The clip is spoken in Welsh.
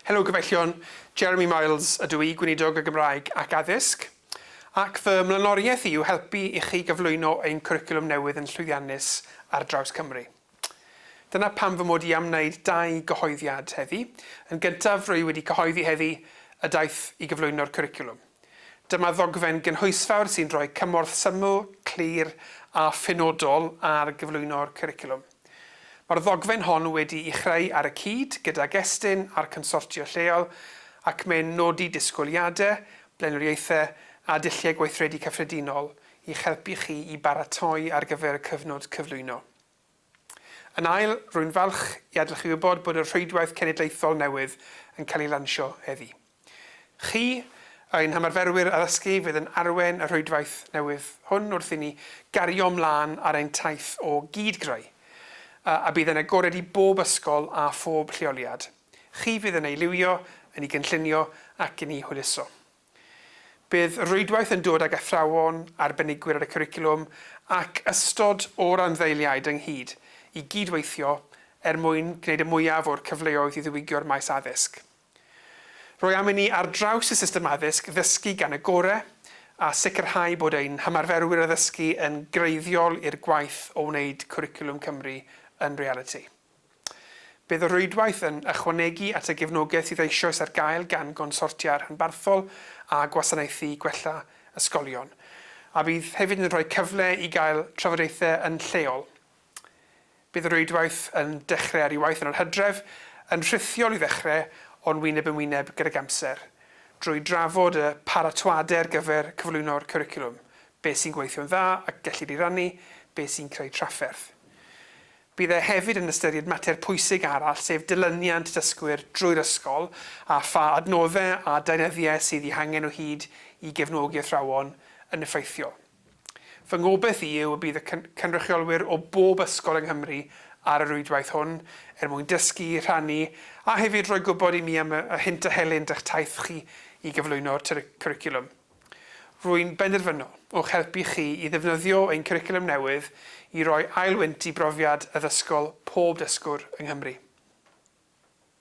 Helo Gyfeillion, Jeremy Miles ydw i, Gweinidog y Gymraeg ac Addysg, ac fy mlaenoriaeth i yw helpu i chi gyflwyno ein cwricwlwm newydd yn llwyddiannus ar draws Cymru. Dyna pam fy mod i am wneud dau gyhoeddiad heddi. Yn gyntaf, rwy wedi cyhoeddi heddi y daith i gyflwyno'r cwricwlwm. Dyma ddogfen gynhwysfawr sy'n rhoi cymorth syml, clir a phenodol ar gyflwyno'r cwricwlwm. Mae'r ddogfen hon wedi'i chreu ar y cyd gydag Estyn a'r consortia lleol ac mae'n nodi disgwyliadau, blaenoriaethau a dulliau gweithredu cyffredinol i'ch helpu chi i baratoi ar gyfer y cyfnod cyflwyno. Yn ail, rwy'n falch i adlewyrchu wybod bod y rhwydwaith cenedlaethol newydd yn cael ei lansio heddiw. Chi, a ein hymarferwyr addysgu fydd yn arwain y rhwydwaith newydd hwn wrth i ni gario mlaen ar ein taith o gyd-greu, a bydd yn agored i bob ysgol a phob lleoliad. Chi fydd yn ei liwio, yn ei gynllunio ac yn ei hwyluso. Bydd y rhwydwaith yn dod ag athrawon, arbenigwyr ar y cwricwlwm ac ystod o randdeiliaid ynghyd i gyd-weithio er mwyn gwneud y mwyaf o'r cyfleoedd i ddiwygio'r maes addysg. Roi am inni ar draws y system addysg ddysgu gan y gore, a sicrhau bod ein hymarferwyr addysgu yn greiddiol i'r gwaith o wneud Cwricwlwm Cymru yn realiti. Bydd y rhwydwaith yn ychwanegu at y gefnogaeth sydd eisoes ar gael gan gonsortia rhanbarthol a gwasanaethu gwella ysgolion, a bydd hefyd yn rhoi cyfle i gael trafodaethau yn lleol Bydd y rhwydwaith yn dechrau ar ei waith yn yr hydref, yn rhithiol i ddechrau o'n wyneb yn wyneb gydag amser, drwy drafod y paratoadau ar gyfer cyflwyno'r cwricwlwm, beth sy'n gweithio'n dda ac gellid ei rannu, beth sy'n creu trafferth. Bydd e hefyd yn ystyried mater pwysig arall, sef dilyniant dysgwyr drwy'r ysgol a pha adnoddau a deunyddiau sydd eu hangen o hyd i gefnogi athrawon yn effeithiol. Fy ngobaith i yw y bydd y cynrychiolwyr o bob ysgol yng Nghymru ar y rwydwaith hwn, er mwyn dysgu, rhannu, a hefyd rhoi gwybod i mi am y hynt a helynt a'ch taith chi i gyflwyno'r cwricwlwm. Rwy'n benderfynol o'ch helpu chi i ddefnyddio ein cwricwlwm newydd i roi ail wynt i brofiad addysgol pob dysgwr yng Nghymru.